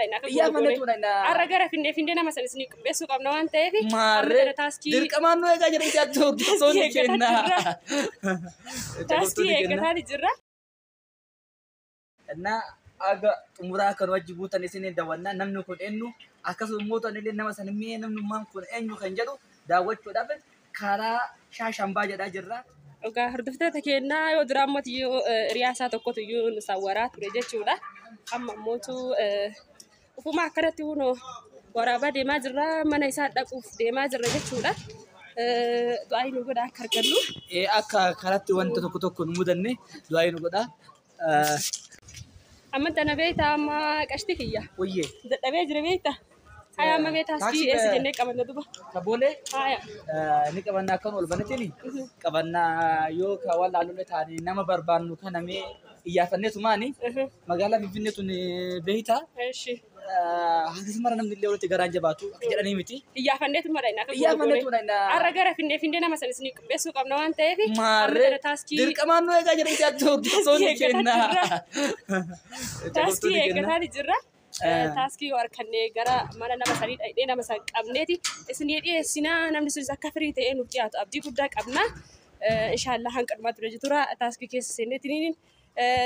Biyyaa mana tuula na. Har'a gara findee findee nama sanis ni qopheessuu qabna waan ta'eef. Maarree dirqamaan nu eegaa jedhan jaatti hordoftoonni keenya. Taaskii eeggataa jirra. Innaa aga xumuraa akka nu wajji buutan isin daawwanna namni kun eenyu akkasuma immoo tanillee nama sanimee namnummaan kun eenyu kan jedhu daawwachuudhaaf Kaaraa Shaah Shambaa jedhaa jirra. Egaa hordoftoota keennaa yoo duraa immoo iyyuu hiriyaa isaa tokkotu iyyuu nu sawwaraa ture jechuudha. Amma immootu ufuma akkanatti kunoo waraabaa deemaa jirra. Mana isaa dhaquuf deemaa jirra jechuudha. Du'aa nu godha akka argannu. Akka karatti wanta tokko tokko nu mudanne du'aa nu godha. Amma tana beekta amma qashti kiyya. Wayye. Dadhabee jira beekta. Haya amma mee taaksii Taaksii, eessa eh, jennee qabanna duba. Kaboolee Haya. ni qabanna akkan ol banetini qabanna yoo ka waan laalollee taane nama barbaannu kana mee iyyaafanneetu maani Mhm. magaalaa Finfinnee tun beeyta Eshi. Hanga mara namni illee walitti garaan jabaatu akka jedhanii miti. Iyyaafanneetu mara inni akka Iyyaafanneetu goone. mara inni akka- Har'a gara finnee finnee nama sana isin qopheessuu qabna waan ta'eef. amma Maarree kana taaskii dirqamaan nu eegaa jedhanii jaatti hordoftoonni Taaskii keenya. taaskii eeggataa jirra. Eh. Taaskii yoo harkannee gara mana nama sanii dhaqnee nama san qabneeti isin dhiyeessinaa namni sunis akka firii ta'ee nuuf dhiyaatu abdii guddaa qabna. Eh, Inshaallah hanqalumaa ture jechuudha taaskii keessa seenneetiin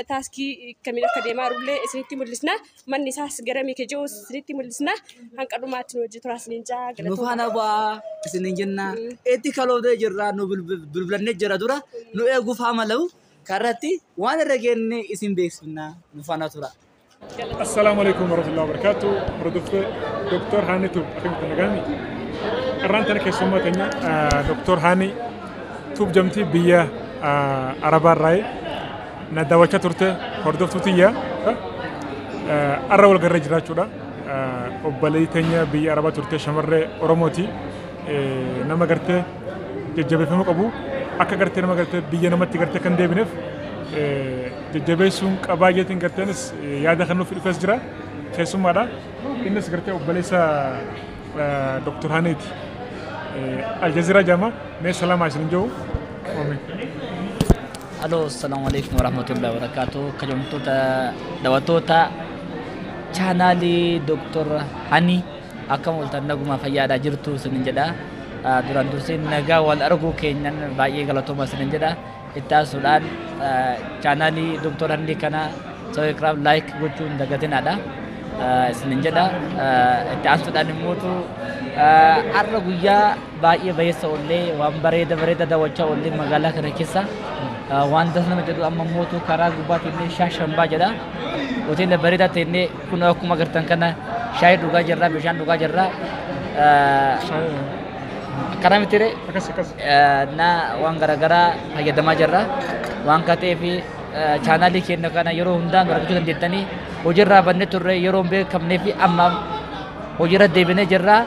taaskii kamiin akka deemaa jirullee isinitti mul'isna. Manni isaas gara miike jiru isinitti mul'isna. Hanqa dhumaatti nu wajjin turaa isiniin jaa Nu galatoomaa. faana bu'aa isiniin jenna. Itti kaloofnee jirra nu bilbil- bilbilannee jira dura nu eeguuf haama lahu karratti waan irra geenne isin beeksifna nu faana tura. Assalaamu alaikum warahmatullahi wabarakatuh. Hordoftoota Dr. Haanitu akkamitti nagaan? Qarraan tana keessummaa keenya Dr. Haani tuub jamtii biyya Arabaa irraa na daawwachaa turte hordoftuu tiyya arra wal garree jiraachuudha. Obboleettii teenya biyya Arabaa turte shamarree Oromooti nama gartee jajjabeeffamuu qabu. Akka gartee nama gartee biyya namatti gartee kan deebineef jajjabeessuun qabaa jeetiin garteenis yaada kan nuuf dhufes jira. Keessummaadha. Innis gartee obboleessa Dr. Haneeti. Aljaziiraa jaama mee salaamaa isin jiru. Aloo, assalamu alaikum warahmatullahi wabarakatuh. Kabajamtoota daawwattoota chaanaalii Dr. Hani. Akkam ooltan naguma fayyaadha jirtu isinin jedha. Ah, Duraan dursee nagaa wal arguu keenyan baay'ee galatooma isinin jedha. Itti aansuudhaan ah, chaanaalii Dr. Handii kana sabiskiraayib laayik gochuu hin dagatinaadha. Ah, Isinin jedha. Ah, Itti aansuudhaan immootu ah, har'a guyyaa baay'ee bayeessa ollee waan bareeda bareeda daawwachaa ollee magaalaa kana keessa ah, waan das nama jedhu amma immootu karaa gubbaa teennee shaashambaa jedha. Hoteela bareedaa teennee Kun akkuma agartan kana shaayii dhugaa jirra, bishaan dhugaa jirra. Kana miti ree? Akkas akkas. na waan garaagaraa fayyadamaa jirra. Waan akka ta'eef chaanaalii keenya kana yeroo hundaa nu argachuu dandeettanii hojiirraa bannee turre yeroo hin beekamnee fi amma hojiirra deebinee jirra.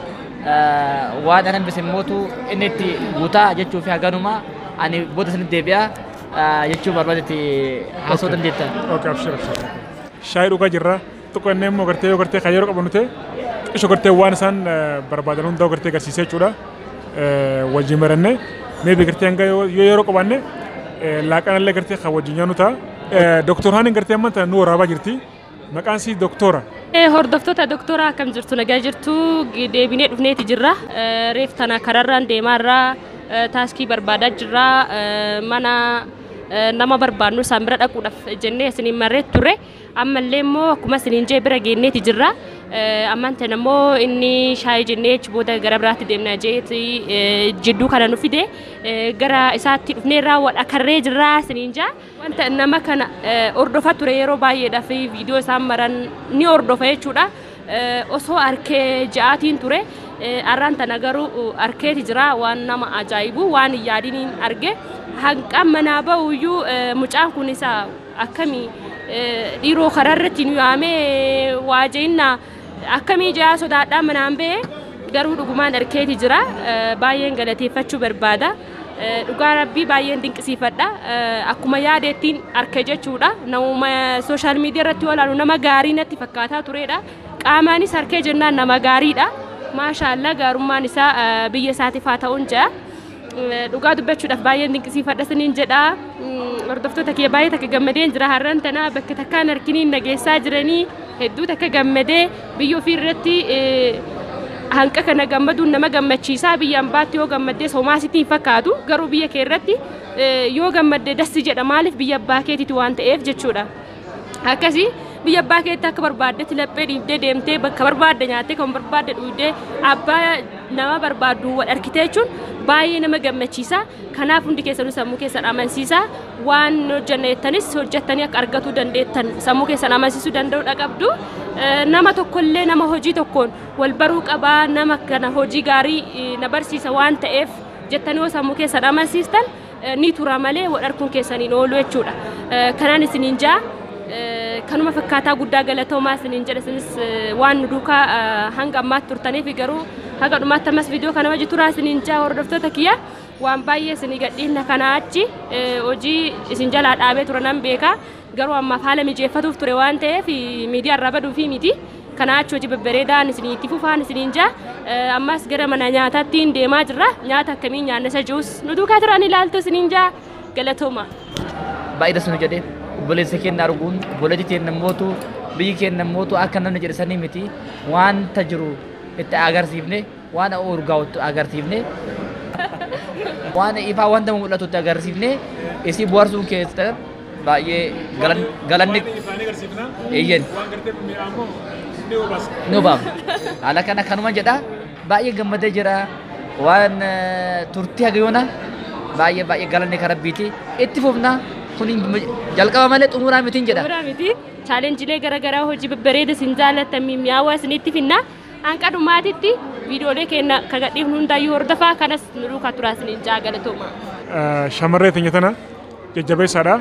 Waan anan bise mootu inni itti guutaa jechuu fi haganuma ani booda isinitti deebi'a jechuu barbaadetti haasoo dandeetta. Okay, abshir abshir. Shaayii dhugaa jirra. Xiqqoo inni immoo gartee yoo gartee kan yeroo qabannu ta'e xiqqoo gartee waan isaan barbaadan hundaa gartee agarsiisee jechuudha. Wajjin marannee meebi gartee hanga yoo yeroo qabanne laaqana illee gartee kan wajjin nyaannu ta'a. Doktor Haaniin gartee amma tana nu waraabaa jirti. Maqaan isii doktora. Hordoftoota doktora akkam jirtu nagaa jirtu deebinee dhufneeti jirra. Reef tana kararraan deemaarraa taaskii barbaadaa jirra mana nama barbaannu isaan bira dhaquudhaaf jennee isiniin marree turre ammallee immoo akkuma isiniin jee bira geenneeti jirra ammaan tan immoo inni shaayii jennee achi booda gara biraatti deemna jeeti jidduu kana nu fide gara isaatti dhufnee raawwat akarree jirra isiniin jaa wanta nama kana hordofa ture yeroo baay'eedhaaf viidiyoo isaan maran ni hordofa jechuudha. osoo arkee ja'aatiin ture arraan tana garuu arkeeti jira waan nama ajaa'ibu waan hin yaadiniin arge hanqaan manaa ba'uyyuu mucaan kun isa akkamii dhiiroo karaa irratti nu yaamee waa je'innaa akkamii ja'aa sodaadhaa manaan ba'e garuu dhugumaan arkeeti jira baay'een galateeffachuu barbaada. Dhugaa rabbii baay'een dinqisiifadha. Akkuma yaadeettiin arke jechuudha. Nama sooshaal miidiyaa irratti olaanu nama gaarii natti fakkaataa turedha. Qaamaanis harkee jennaan nama gaariidha. Maashaallah gaarummaan isaa biyya isaatiif haa ta'uun jedha. Dhugaa dubbachuudhaaf baay'een dinqisiifadha isiniin jedha. Hordoftoota kiyya baay'ee takka gammadeen jira har'an tana bakka takkaan harkiniin nageessaa jiranii hedduu takka gammadee Biyya ofii irratti hanqa kana gammaduun nama gammachiisa. Biyya ambaatti yoo gammaddes homaa sitti hin fakkaatu. Garuu biyya kee irratti yoo gammadde dassi jedha maaliif biyya abbaa keetiiti waan ta'eef jechuudha. Akkasi biyya abbaa keetti akka barbaaddetti laphee dhiibdee deemtee bakka barbaadde nyaattee kan barbaadde dhuydee abbaa nama barbaaddu wal argitee jechuun baay'ee nama gammachiisa. Kanaaf hundi keessanuu sammuu keessan amansiisaa waan hojjanna jettanis hojjattanii akka argatuu dandeettan sammuu keessan amansiisuu danda'uudha qabdu. Nama tokkollee nama hojii tokkoon wal baruu qabaa nama kana hojii gaarii na barsiisa waan ta'eef jettanii yoo sammuu keessan amansiistan ni tura malee wal arguun keessaniin oolu jechuudha. Kanaan isiniin jaa kanuma fakkaataa guddaa galatoomaa isiniin jedha isinis waan nu duukaa hanga ammaatti turtaniif garuu Haga dhumaatti ammas viidiyoo kana wajji turaa isiniin jaa hordoftoota kiyya waan baay'ee isinii gadhiifna kanaa achi hojii isin jalaa dhaabee ture nan beeka garuu ammaaf haala mijeeffatuuf ture waan ta'eef miidiyaa irraa baduu fi miti kanaa achi hojii babbareedaan isinii itti fufaan isiniin jaa ammas gara mana nyaataattiin deemaa jirra nyaata akkamiin nyaanna isa jiruus nu duukaa turaan ilaaltu isiniin jaa galatooma. Baay'ee dasnu jedhee obboleessa keenya arguun obboleetti keenya mootu biyyi keenya mootu akka namni jedhe sanii miti wanta jiru itti agarsiifne waan urgaa'utti agarsiifne waan ifaa wanta mul'atutti agarsiifne isii buharsuun keessan baay'ee galan- galanni Isaanii agarsiifna. Eeyyen. Waan gartee mi'aa immoo ni hubaasa. ni hubaama. Haala kana kanuma jedha baay'ee gammadee jira waan eh, turtii hagayoona baay'ee baay'ee galanni kan rabbiiti itti fufna kun jalqaba malee xumuraa mitiin jedha. Suuraa miti. chaalenjilee gara garaa hojii babbareeda isin jaallattan mi'aawaa isinitti finna hanqa dhumaatitti viidiyoolee keenya kan gadhiifnu hundaayyuu hordofaa kanas nu duukaa turaa isiniin ja'a galatooma. Shamarree teenya tana jajjabeessaadha.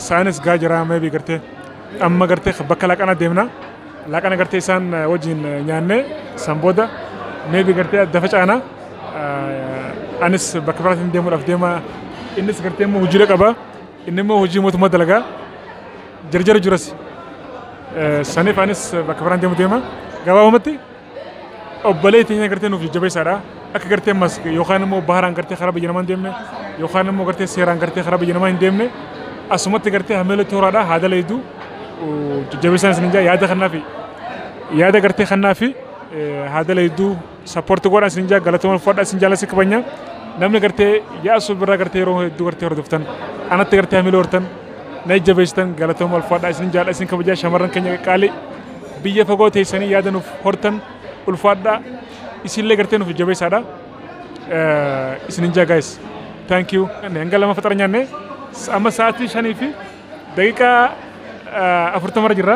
Saayinis gaa jiraa meebii gartee amma gartee bakka laaqana deemna. Laaqana gartee isaan wajjin nyaannee san booda meebii gartee adda facaana. Anis bakka biraatiin deemuudhaaf deema. Innis gartee immoo hojiilee qaba. Inni immoo hojii mootummaa dalagaa jarjara jiras saniif anis bakka biraan deemu deema. Gabaabumatti obbolee teenya gartee nuuf jajjabeessaadha. Akka gartee mas yookaan immoo baharaan gartee karaa biyya namaa hin deemne yookaan immoo gartee seeraan gartee karaa biyya namaa hin deemne asumatti gartee hameela tooraadha haadala hedduu jajjabeessaan isin hin jaa yaada kanaa fi yaada gartee kanaa fi haadala hedduu Sapporti godha sin jaa galatoma uffadha sin jaalasi kabanya namni gartee yaasu birra gartee yeroo hedduu gartee hordoftan anatti gartee hamilee hortan na jajjabeessitan galatoma ulfaadha isin jaal'a isin kabajaa shamarran keenya qaqqaalii biyya fagoo teessanii yaada nuuf hortan ulfaadha isinillee gartee nuuf jajjabeessaadha isin hin jaa gaayis thank you hanga lama faxara nyaanne amma sa'aatii shanii fi daqiiqaa afurtamarra jirra.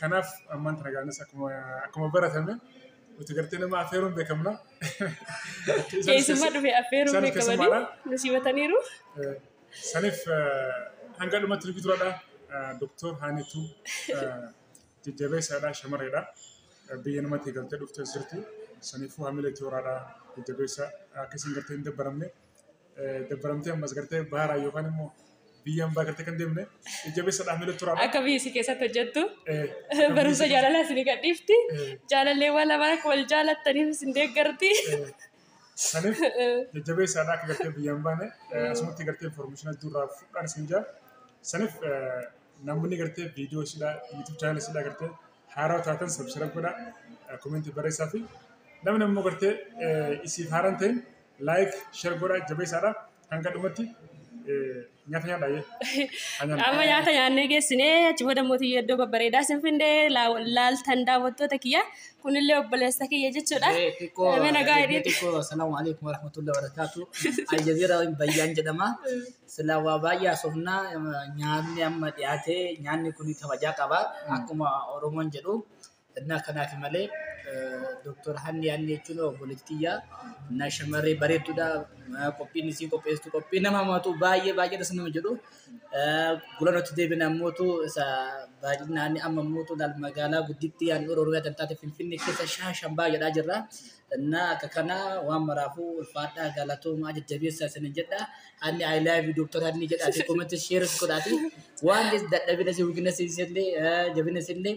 Kanaaf ammaan tana gaanis akkuma akkuma baratame nuti gartee nama affeeruun beekamna. Keessummaa dhufe affeeruun Isaanis beekamanii keessummaadha. nu simataniiru. Eh, Saniif eh, hanga dhumatti nuti turadha. Doktor Haanituu eh, jajjabeessaadha shamarreedha. Eh, Biyya namatti galtee dhufte sirti. Saniifuu hamilee tooraadha jajjabeessa akka isin gartee hin dabbaramne. dabbaramtee ammas gartee baara yookaan immoo biyya ambaa gartee kan deemne jajjabeessa dhaabnee tura. Akka biyyi si keessatti hojjettu barumsa jaalalaa isin gadhiifti. Jaalallee waan lamaan akka wal jaalattaniif isin deeggarti. Saniif jajjabeessa akka gartee biyya ambaa ne asumatti gartee information adduurraa fudhaan isin jaa. Saniif namni gartee viidiyoo isidhaa YouTube channel isidhaa gartee haaraa taatan subscribe godhaa komentii barreessaa fi namni ammoo gartee isiif haaraan ta'in Like share godhaa jabeessaadha hanga dhumatti eh, nyaata nyaadhaa jee. Amma nyaata nyaannee geessinee achi booda mootii iddoo babbareedaa sin findee laa- laaltan daawwattoota kiyya kunillee obboleessa kiyya jechuudha. Eh, xiqqoo Mee nagaa eh, hidhiidha. xiqqoo assalaamu alaikum warahmatullahi wabarakaatu aljazeera bayyaan jedhama silaa waa baay'ee asofnaa nyaanni amma dhiyaate nyaanni kun kabajaa qaba akkuma oromoon jedhu Innaa kanaaf malee Dooktor Hanni Hanni jechuun obboleettiyyaa innaa shamarree bareeddudha. Qophiin isii qopheessitu qophii nama hamaatu baay'ee baay'ee dhasa nama jedhu. Gulanotti deebina ammootu isa baay'inaan amma ammootu laal magaalaa gudditti yaan Oromiyaa kan taate Finfinnee keessa shaashan baay'eedhaa jirra. Innaa akka kana waan maraafuu ulfaadhaa galatoomaa jajjabeessaa isinin jedha. Hanni I love you Dooktor Hanni jedhaati koomatti sheeris godhaati. Waan dadhabina isii weakness isii illee jabina isii illee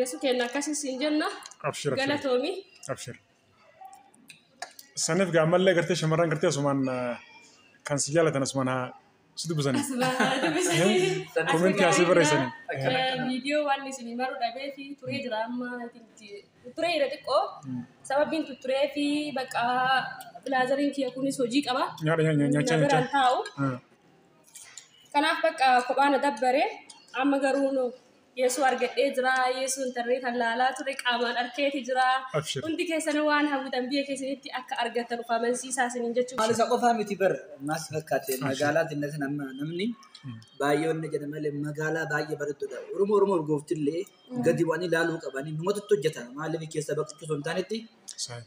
Yesu keenya akkasii siin jenna. Abshir abshir Galatoomi. abshir. Saniif gaa ammallee gartee shamarran gartee asumaan ah, kan si jaalatan asumaan haa si dubbisanii. Asumaan haa dubbisanii. Komentii asii barreessanii. Akkana akkana. Viidiyoo waan isin maruu dhabee fi turee jira amma turee jira xiqqoo sababiin turee fi bakka bilaazariin kiyya kunis hojii qaba. Nyaadha nyaadha nyaachaa Na biraan nyaachaa. taa'u. Ah. Kanaaf bakka kophaa na dabbare amma garuu nu Yeesuu argadhee jira. Yeesuu intarneetaan laalaa ture qaamaan arkeeti jira. Abshir. Hundi keessan waan hawwitan biyya keessanitti akka argattan of amansiisaa isiniin jechuun Maal isa qofaa miti bar maal si fakkaate magaalaa xinnatin amma namni baay'ee wanna jedha malee magaalaa baay'ee bareeddudha. Oromoo Oromoo urgooftillee gadi bu'anii ilaaluu qabanii numatu itti hojjeta maaliif keessa baqachuu osoo hin taanetti Saayii.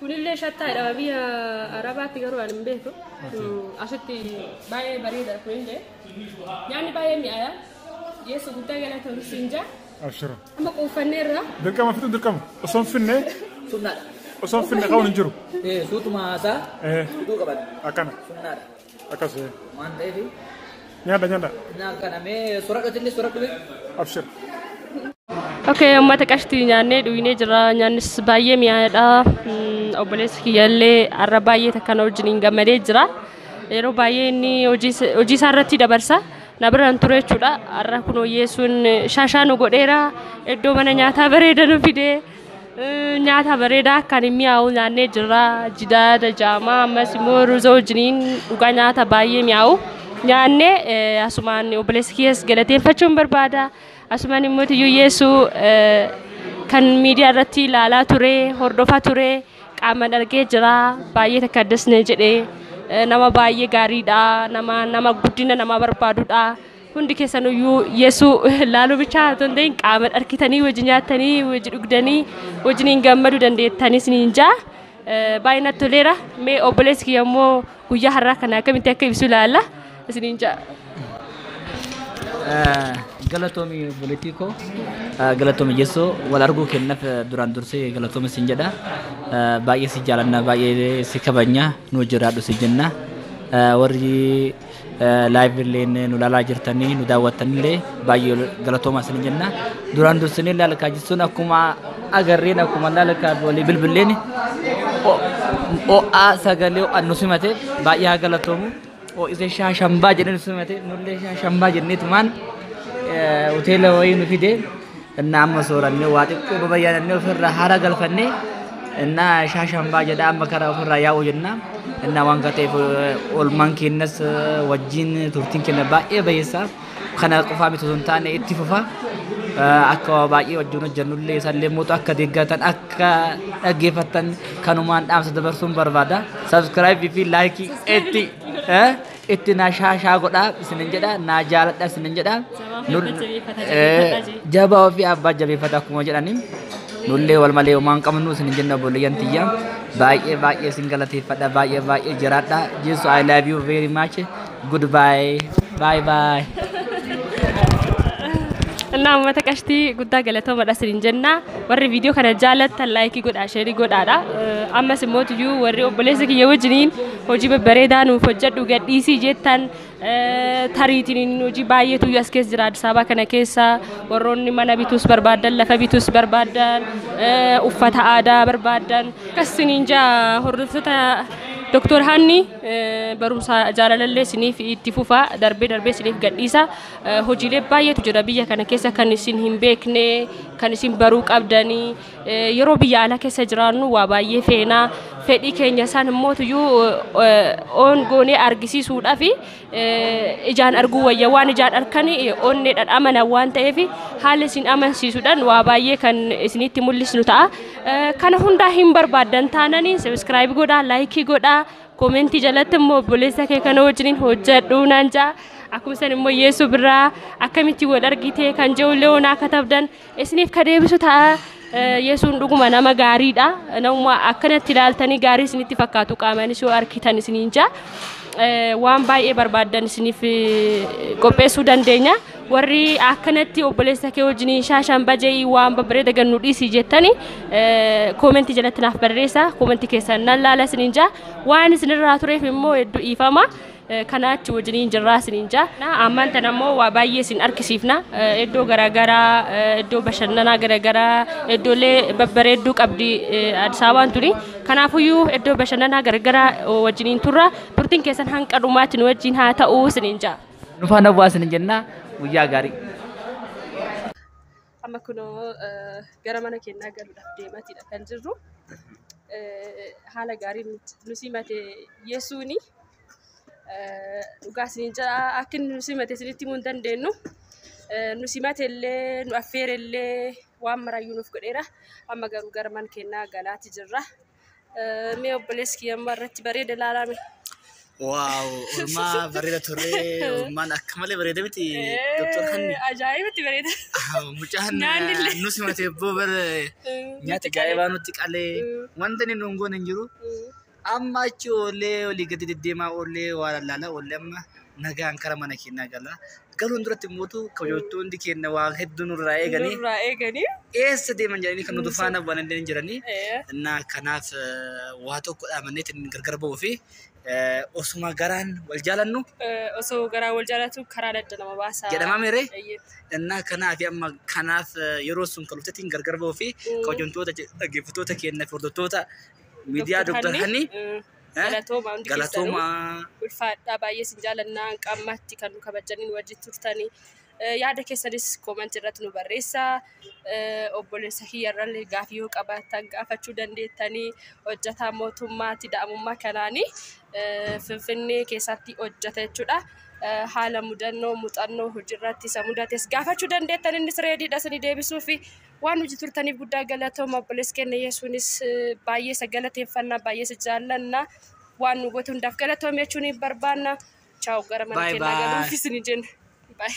Kunillee shattaa jedhama biyya Arabaatti garuu ani hin beeku. Asitti baay'ee bareeda kunillee. Nyaanni baay'ee mi'aaya. Yesu guddaa galatoomii siin jaa. Abshira. Amma quuffanneerra. Dirqama fixu dirqama. Osoo hin finne Sunnaadha. osoo hin finne ka'uun hin jiru. Eh, Suutuma haasaa Eh. fudhuu qaban. Akkana. Sunnaadha. Akkasi. Waan ta'eef. Nyaadha nyaadha. Naa kana mee soradhoti illee soradhu mee. Abshir. Okay, uummata qashtii nyaannee dhugnee jirra. Nyaannis baay'ee mi'aadha. Mm, Obboleessi kiyyaallee har'a baay'ee takka na wajjin hin gammadee jira. Yeroo baay'ee inni hojii is- hojii isaa irratti dabarsa. Na bira hin ture jechuudha. Har'a kun hojjeessuun shaashaa nu godheera. Iddoo mana nyaataa bareeda nu fidee. Nyaata bareedaa kan hin mi'aawu nyaannee jirra. Jidaada jaamaa ammas immoo ruuza wajjiniin dhugaa nyaata baay'ee mi'aawu. Nyaannee eh, asumaan obboleessi kiyyas galateeffachuun barbaada. Asumaan immoo tiyyuu yeessuu eh, kan miidiyaa irratti ilaalaa ture, hordofaa ture, qaamaan argee jira. Baay'ee takka addas na jedhe. Eh, Nama baay'ee gaariidha. Nama nama guddina namaa barbaadudha. Hundi keessanuyyuu Yesuu laaluu bichaa otoo hin ta'in qaaman arkitanii wajji nyaattanii wajji dhugdanii wajjin hin gammadu dandeettanii isiniin jaa. Baay'ee natti toleera. Mee obboleessi kiyya immoo guyyaa har'aa kana akkamitti akka ibsu ilaalla isiniin jaa. Galatoomi obboleettii koo galatoomi Yesuu wal arguu kennaaf duraan dursee galatoomi siin jedha. Baay'ee si jaalanna baay'ee si kabajna nuu jiraadhu si jenna. Warri Live illeen nu laalaa jirtanii nu daawwattanillee baay'ee galatoomaa isin jenna. Duraan dursinee laalkaa jechuun akkuma agarreen akkuma laalkaa walii bilbilleen ho'aa sagalee ho'aan nu simate baay'ee haa galatoomu. Ho'ise shaa shambaa jedhee nu simate nullee shaa shambaa jenneetumaan hoteela wayii nu fide Innaa amma soorannee waa xiqqoo babayyaanannee ofirraa haara galfannee innaa shaashambaa jedha amma karaa ofirraa yaa'u jenna. Innaa waan ta'eef oolmaan keenyas wajjin turtiin keenya baay'ee bayeessa. Kana qofaa miti osoo hin taane itti fufa. Akka waa baay'ee wajjin hojjennullee isallee mootu akka deeggartan akka dhaggeeffattan kanumaan dhaamsa dabarsuun barbaada. Subscribe fi like itti. itti na shaashaa godhaa isinin jedha naa jaaladha isinin jedha jabaa ofii abbaa jabeeffata akkuma jedhani nullee wal malee homaan qabnu isinin jenna obboleeyyan tiyya baay'ee baay'ee isin galateeffadha baay'ee baay'ee jiraadha jesu i love you very much goodbye bye bye Innaa uummata qashtii guddaa galatoomadha isin jenna. Warri viidiyoo kana jaallattan laayikii godhaa, sheerii godhaadha. Ammas immoo tuyyuu warri obboleessa kiyya wajjiniin Hojii babbareedaa nuuf hojjedhu gadhiisii jettan tariitiin hojii baay'eetu as keessa jira Addis Ababa kana keessa warroonni mana bituus barbaadan lafa bituus barbaadan uffata aadaa barbaadan akkas siniin jaa hordoftoota Doktor Hanni barumsa jaalalallee siniif itti fufaa darbee darbee siniif gadhiisa hojiilee baay'eetu jira biyya kana keessa kan isin hin beekne kan isin baruu qabdanii Yeroo biyya alaa keessa jiraannu waa baay'ee feena. Fedhii keenya san immoo tuyyuu oon goonee argisiisuudhaaf ijaan arguu wayya. Waan ijaan arkan onneedhaan amanan waan ta'eef haala isin amansiisuudhaan waa baay'ee kan isinitti mul'isnu ta'a. Kana hundaa hin barbaaddan taananii sabiskiraayib godhaa, laayikii godhaa, koomentii jalatti immoo obboleessa kee kana wajjiniin hojjedhuu naan ja'a. Akkuma san immoo Yeesuu birraa akkamitti wal argitee kan je'ullee onaa katabdan. Isiniif ka deebisu ta'a. Yesuun dhuguma nama gaariidha. Namuma akkanatti ilaaltanii gaarii isinitti fakkaatu qaamaanis yoo arkitan isiniin ja'a. Waan baay'ee barbaaddan isiniif qopheessuu dandeenya. Warri akkanatti obboleessa kee wajjiniin shaashaan baja'ii waan babbareeda gannu dhiisii jettanii koomentii jalatti naaf barreessa. Koomentii keessan nan laala isiniin ja'a. Waan isinirraa tureef immoo hedduu dhiifama. kanaa achi wajjiniin jirraa isiniin jaa ammaan tan ammoo waa baay'ee isin argisiifna iddoo garaagaraa iddoo bashannanaa garaagaraa iddoolee babbareedduu qabdi Addis Ababaan tuni kanaafuyyuu iddoo bashannanaa garaagaraa wajjiniin turra turtiin keessan hanga dhumaatti nu wajjin haa ta'u isiniin jaa. Nufaan hawwaa isiniin jenna guyyaa gaarii. Amma kunoo gara mana keenyaa galuudhaaf deemaatiidha kan jirru. Haala gaariin nu simate Yesuuni. Dhugaa isiniin jedha akka inni nu simate isinitti himuu hin dandeenyu. Nu simate illee nu affeere illee waan maraayyuu nuuf godheera. Amma garuu gara mana keenyaa galaati jirra. Mee obboleessi kiyya ammaa irratti bareeda ilaalame. Waaw, ormaa bareeda turee, ormaan akka malee bareeda miti. Doktor Hanni. Ajaa'ibatti bareeda. Mucaan Nyaanni illee. nu simatee boo bara nyaata gaa'ibaa nutti qalee wanta inni nuun goone hin jiru. Amma achi oollee olii gadi deddeemaa oollee waa lallaala oollee amma nagaan kara mana keenyaa gala. galuun duratti immootu kabajamtoonni keenya waa hedduu nurraa eeganii Nurraa eeganii. eessa deeman jedhanii kan nuti faana bu'an illee hin jiranii. Eh, Innaa kanaaf eh, waa tokko dhaamanneetti inni gargar ba'uu fi eh, osuma garaan wal jaalannu eh, Osoo garaa wal jaalatu karaa adda nama baasa. jedhamaa meeree? Eeyyee. Innaa kanaaf amma kanaaf eh, yeroo sun kan dhuftettiin gargar ba'uu fi Mm. kabajamtoota je- dhaggeeffattoota keenya fi hordoftoota miidiyaa Dr. Dr. Hanii Hanii, eh, Eh? Galatoomaa hundi keessanuu. Galatoomaa. ulfaadhaa baay'ee isin jaalannaa hanga ammaatti kan nu kabajaniin wajjin turtanii Eh, yaada keessanis koomantii irratti nu barreessaa Eh, obboleessa kiyyarrallee gaafii yoo qabaattan gaafachuu dandeettanii hojjetaa mootummaatti da'amummaa kanaanii eh, finfinnee keessatti hojjeta jechuudha Eh, haala mudannoo muuxannoo hojiirratti isa mudates gaafachuu dandeettan innis reediidha isinii deebisuufi Waan nuti turtaniif guddaa galatooma obboleessi keenya Yesuunis baay'ee isa galateeffanna baay'ee isa jaallanna waan nu goote hundaaf galatoome jechuun barbaanna. Chaawu gara mana Bye keenyaa bye. galuuf isin jenna. Bye.